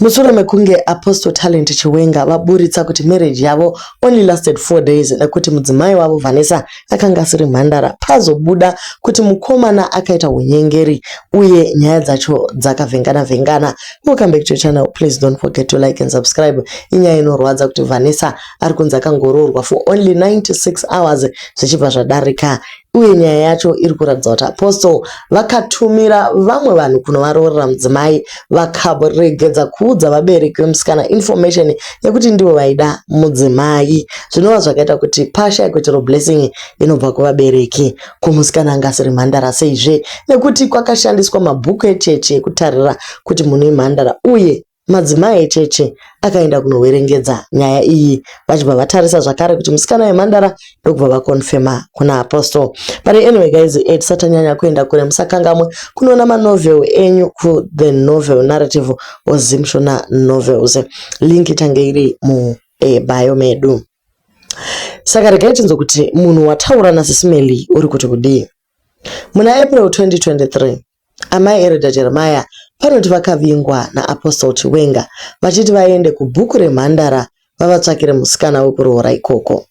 Mushure mekunge Apostle Talent Chiwenga vaburitsa kuti marriage yavo only lasted four days nekuti mudzimai wavo Vanessa akanga asiri mhandara, pazobuda kuti mukomana akaita hunyengeri uye nyaya dzacho dzakavhengana vhengana. Welcome back to your channel, please don't forget to like and subscribe. Inyaya inorwadza kuti Vanessa ari kunzi akangoroorwa for only 96 hours zvichibva zvadarika uye nyaya yacho iri kuratidza kuti apostle vakatumira vamwe vanhu kunovaroorera mudzimai vakaregedza kuudza vabereki vemusikana information yekuti ndivo vaida mudzimai zvinova zvakaita kuti pashaye kuti ro blessing inobva kuvabereki kumusikana anga asiri mhandara seizve nekuti kwakashandiswa mabhuku echechi ekutarira kuti munhu imhandara uye Madzimai echechi akaenda kunoverengedza nyaya iyi vachibva vatarisa zvakare kuti musikana yemhandara ndokubva vakonfema kuna Apostle. But anyway guys, eh, tisatanyanya kuenda kure musakangamwe kunoona manovel enyu ku The Novel Narrative or Zimshona Novels. Link ichange iri mu eh, bio medu. Saka regai tinzwe kuti munhu wataura naSisi Melly uri kuti kudii. Muna April 2023, Amai Eredha Jeremiah vanoti vakavingwa naApostle Chiwenga vachiti vaende kubhuku remhandara vavatsvakire musikana wekuroora ikoko.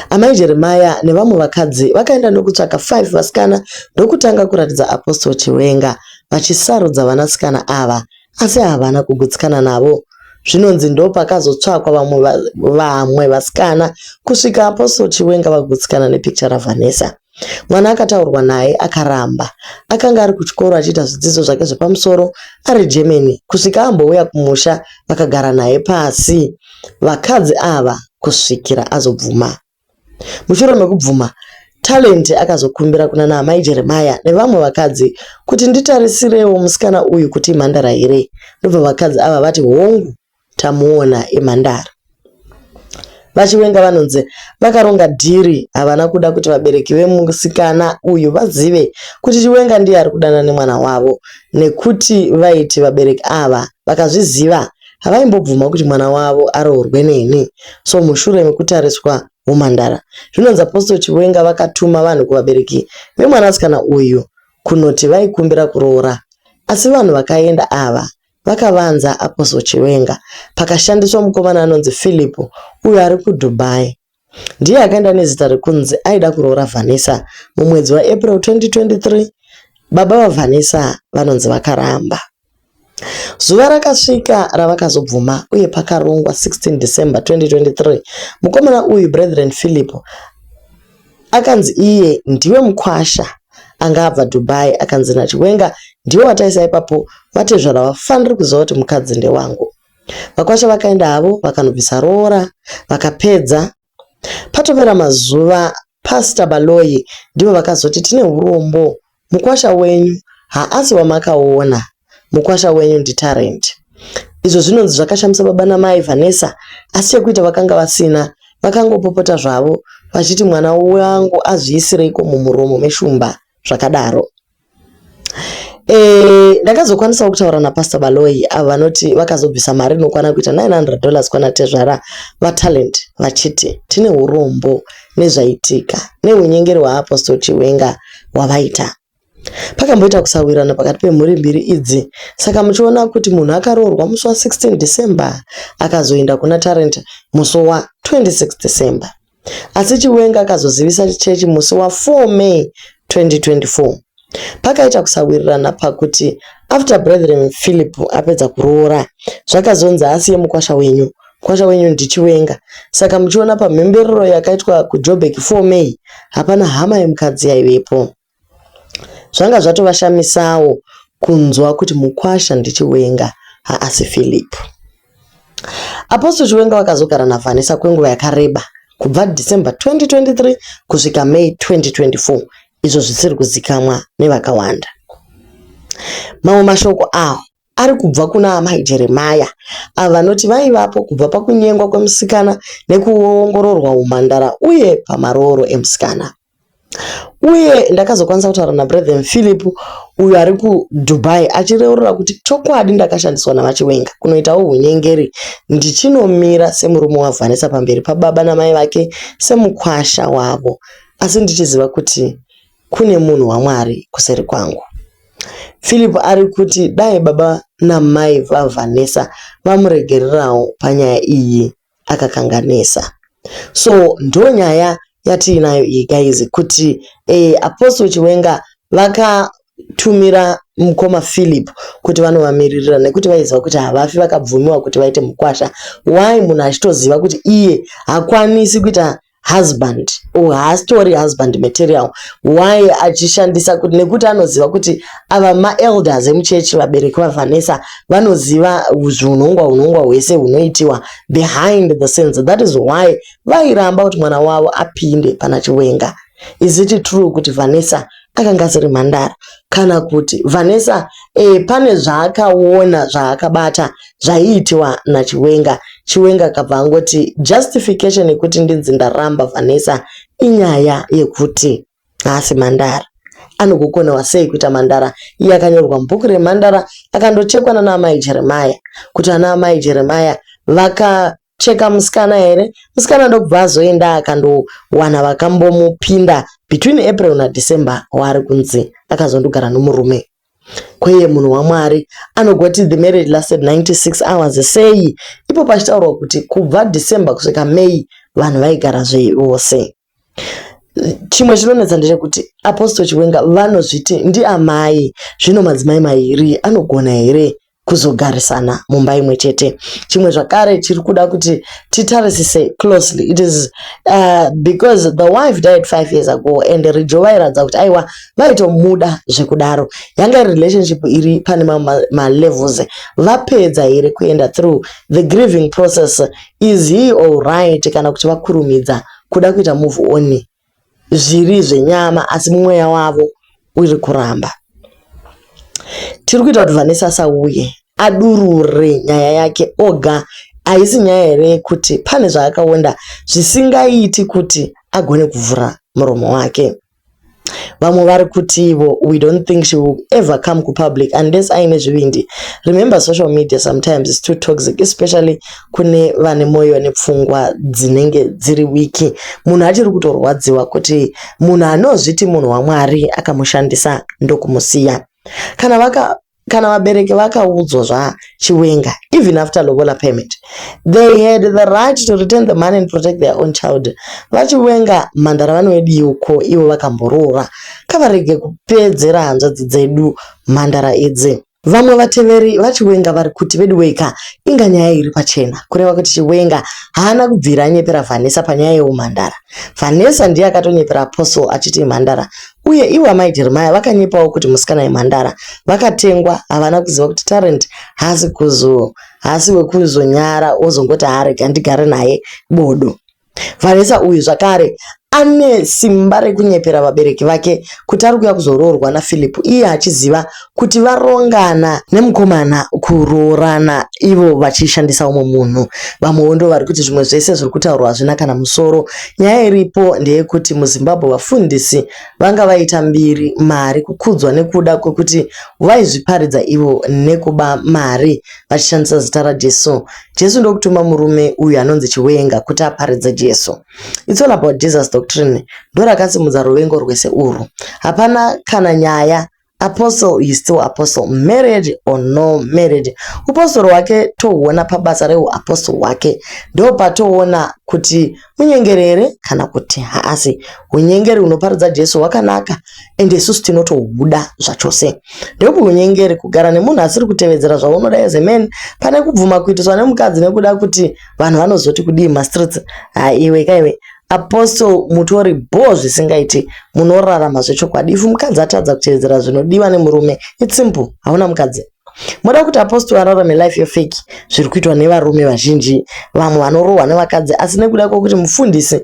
Amai Jeremiah nevamwe vakadzi vakaenda ndokutsvaka 5 vasikana ndokutanga kuratidza Apostle Chiwenga vachisarudza vanasikana ava asi havana kugutsikana navo. Zvinonzi ndopakazotsvakwa vamwe vamwe vasikana kusvika Apostle Chiwenga vagutsikana nepicture raVanessa. Mwana akataurwa naye akaramba. Akanga ari kuchikoro achiita zvidzidzo zvake zvepamusoro ari Germany kusvika ambouya kumusha vakagara naye pasi vakadzi ava kusvikira azobvuma. Mushure mekubvuma, Talent akazokumbira kuna naamai Jeremaya nevamwe vakadzi kuti nditarisirewo musikana uyu kuti imhandara here ndobva vakadzi ava vati hongu tamuona imhandara. VaChiwenga vanonzi vakaronga dhiri havana kuda kuti vabereki vemusikana uyu vazive kuti Chiwenga ndiye ari kudanana nemwana wavo nekuti vaiti vabereki ava vakazviziva havaimbobvuma kuti mwana wavo aroorwe neni. So mushure mekutariswa humhandara, zvinonzi Apostle Chiwenga vakatuma vanhu kuvabereki vemwanasikana uyu kunoti vaikumbira kuroora asi vanhu vakaenda ava Vakavanza Apostle Chiwenga pakashandiswa mukomana anonzi Philip uyo ari kuDubai. Ndiye akaenda nezita rekunzi aida kuroora Vanessa mumwedzi waApril 2023. Baba vaVanessa vanonzi vakaramba. Zuva rakasvika ravakazobvuma uye pakarongwa 16 December 2023, mukomana uyu Brethren Philip Akanzi iye ndiwe mkwasha anga abva Dubai akanzi naChiwenga ndiwe wataisa ipapo vatezvara havafaniri kuziva kuti mukadzi ndewangu. Vakwasha vakaenda havo vakanobvisa roora vakapedza. Patopera mazuva Pastor Baloyi ndivo vakazoti tine hurombo Mukwasha wenyu haasi wamakaona, mukwasha wenyu ndiTarrant. Izvo zvinonzi zvakashamisa baba namai Vanessa asi chekuita vakanga vasina, vakangopopota zvavo vachiti mwana wangu azviisireiko mumuromo meshumba zvakadaro. Eeh ndakazokwanisawo kutaura naPastor Baloyi avo vanoti vakazobvisa mari inokwana kuita 900 dollars kwana tezvara vaTarrant vachiti tine hurombo nezvaitika nehunyengeri hwaApostle Chiwenga hwavaita. Pakamboita kusawirirana pakati pemhuri mbiri idzi saka muchiona kuti munhu akaroorwa musi wa 16 December akazoenda kuna Tarrant musi wa 26 December. Asi Chiwenga akazozivisa chechi musi wa 4 May 2024. Pakaita kusawirirana pakuti after brethren Philip apedza kuroora zvakazonzi asiye mukwasha wenyu mukwasha wenyu ndichiwenga saka muchiona pamhemberero yakaitwa kuJoburg 4 May hapana hama yemukadzi yaivepo zvanga zvatovashamisawo kunzwa kuti mukwasha ndichiwenga haasi Philip Apostle Chiwenga wakazogara naVanessa kwenguva yakareba kubva December 2023 kusvika May 2024 izvo zvisiri kuzikamwa nevakawanda. Mamwe mashoko awo ari kubva kuna Amai Jeremiah avo vanoti vaivapo kubva pakunyengwa kwemusikana nekuongororwa umhandara uye pamarooro emusikana. uye ndakazokwanisa kutaura naBrethren Philip uyo ari kuDubai achireurura kuti chokwadi ndakashandiswa naVaChiwenga kunoitawo hunyengeri ndichinomira semurume waVanessa pamberi pababa namai vake semukwasha wavo asi ndichiziva kuti kune munhu waMwari kuseri kwangu. Philip ari kuti dai baba namai vaVanessa vamuregererawo panyaya iyi. akakanganisa so ndonyaya yatiinayo iyi guys kuti eh, Apostle Chiwenga vaka tumira mukoma Philip kuti vanovamiririra nekuti vaiziva kuti havafi vakabvumiwa kuti vaite mukwasha why munhu achitoziva kuti iye hakwanisi kuita husband or haastori husband material why achishandisa kuti nekuti anoziva kuti ava maelders emuchechi vabereki vavanessa vanoziva zviunhongwa unhongwa hwese hunoitiwa behind the scenes that is why vairamba kuti mwana wavo apinde pana chiwenga is it true kuti vanessa akanga asiri mhandara kana kuti Vanessa e, pane zvaakaona zvaakabata zvaiitiwa naChiwenga. Chiwenga akabva angoti justification yekuti ndinzi ndaramba Vanessa inyaya yekuti haasi mhandara. Anogokonewa sei kuita mhandara? Iye akanyorwa mubhuku remhandara akandochekwa nana amai Jeremaya kuti ana amai Jeremaya vaka cheka musikana here musikana ndokubva azoenda akandowana vakambomupinda between april nadecember waari kunzi akazondogara nomurume kweye munhu wamwari anogoti the marriage lasted 96 hours sei ipo pachitaurwa kuti kubva december kusvika may vanhu vaigara zvevose Chimwe chinonetsa ndechekuti Apostle Chiwenga vanozviti ndiamai zvino madzimai mairi anogona here kuzogarisana mumba imwe chete. Chimwe zvakare chiri kuda kuti titarisise closely it is uh, because the wife died five years ago and Rijo vairatidza kuti aiwa vaitomuda zvekudaro. Yanga iri relationship iri pane malevels vapedza here kuenda through the grieving process is he alright kana kuti vakurumidza kuda kuita move on zviri zvenyama asi mweya wavo uri kuramba tiri kuita kuti vanessa asauye adurure nyaya yake oga haisi nyaya here yekuti pane zvaakaonda zvisingaiti kuti agone kuvhura muromo wake vamwe vari kutivo we don't think she will ever come kupublic unless aine zvivindi remember social media sometimes is too toxic especially kune vane mwoyo nepfungwa dzinenge dziri wiki munhu achiri kutorwadziwa kuti munhu anozviti munhu wamwari akamushandisa ndokumusiya kana vaka kana vabereki vakaudzwa zva chiwenga even after lobola payment they had the right to return the money and protect their own child vachiwenga mhandara vanoedii uko ivo vakamboroora kavarege kupedzera hanzvadzi dzedu mhandara idzi vamwe vateveri vachiwenga vari kuti veduweka inga nyaya iri pachena kureva kuti chiwenga haana kubvira anyepera vanessa panyaya yeumhandara vanessa ndiye akatonyepera apostle achiti imhandara Uye ivo amai Jeremiah vakanyepawo kuti musikana yemhandara vakatengwa havana kuziva kuti Tarrant haasi kuzo haasi wekuzonyara wozongoti haarega ndigare naye bodo. Vanessa uyu zvakare ane simba rekunyepera vabereki vake kuti ari kuya kuzoroorwa naPhilip iye achiziva kuti varongana nemukomana kuroorana ivo vachishandisa umwe munhu vamwewo ndo vari kuti zvimwe zvese zviri kutaurwa hazvina kana musoro nyaya iripo ndeyekuti muzimbabwe vafundisi vanga vaita mbiri mari kukudzwa nekuda kwekuti vaizviparidza ivo nekuba mari vachishandisa zita rajesu jesu ndokutuma murume uyu anonzi chiwenga kuti aparidze jesu its all about jesus doctrine ndorakatsimudza ruvengo rwese urwu hapana kana nyaya apostle is still apostle married or no married upostori hwake tohuona pabasa reuapostle hwake ndo patoona kuti munyengeri here kana kuti haasi unyengeri hunoparidza jesu hwakanaka ende isusu tinotohuda zvachose ndokuti unyengeri kugara nemunhu asiri kutevedzera zvaunoda as a man pane kubvuma kuitiswa nemukadzi nekuda kuti vanhu vanozoti kudii mastreets haiwe kaiwe Apostle mutori bhoo zvisingaiti munorarama zvechokwadi if mukadzi atadza kuteedzera zvinodiwa nemurume it's simple hauna mukadzi moda kuti apostle ararame life yefeki zviri kuitwa nevarume vazhinji vamwe vanorohwa nevakadzi asi nekuda kwekuti mufundisi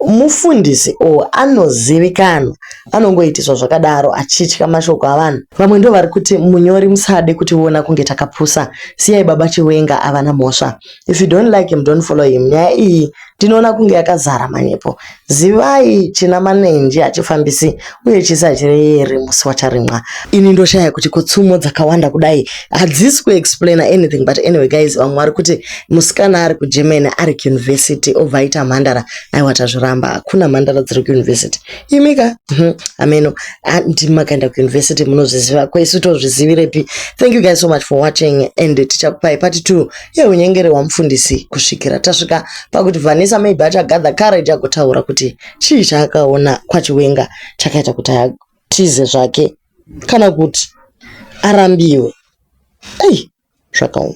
mufundisi o anozivikanwa anongoitiswa zvakadaro achitya mashoko avanhu vamwe ndo vari kuti munyori musade kutiona kunge takapusa siyai baba chiwenga avana mhosva If you don't like him don't follow him. Nyaya iyi ndinoona kunge yakazara manyepo. Zivai china manenji hachifambisi uye chisi hachireyeri musi wacharimwa. Ini ndoshaya kuti ko tsumo dzakawanda kudai hadzisi kuexplaina anything but anyway guys vamwe vari kuti musikana ari kuGermany ari kuuniversity obva aita mhandara aiwa tazviramba hakuna mhandara dziri kuuniversity imika mhm, ameno ah, ndimi makaenda kuuniversity munozviziva ko isu tozvizivirepi thank you guys so much for watching and tichakupai part two yeunyengeri wamufundisi kusvikira tasvika pakuti vanisa maybe achagather courage agotaura kuti chii chaakaona kwachiwenga chakaita kuti atize zvake kana kuti arambiwe ei zvakaoma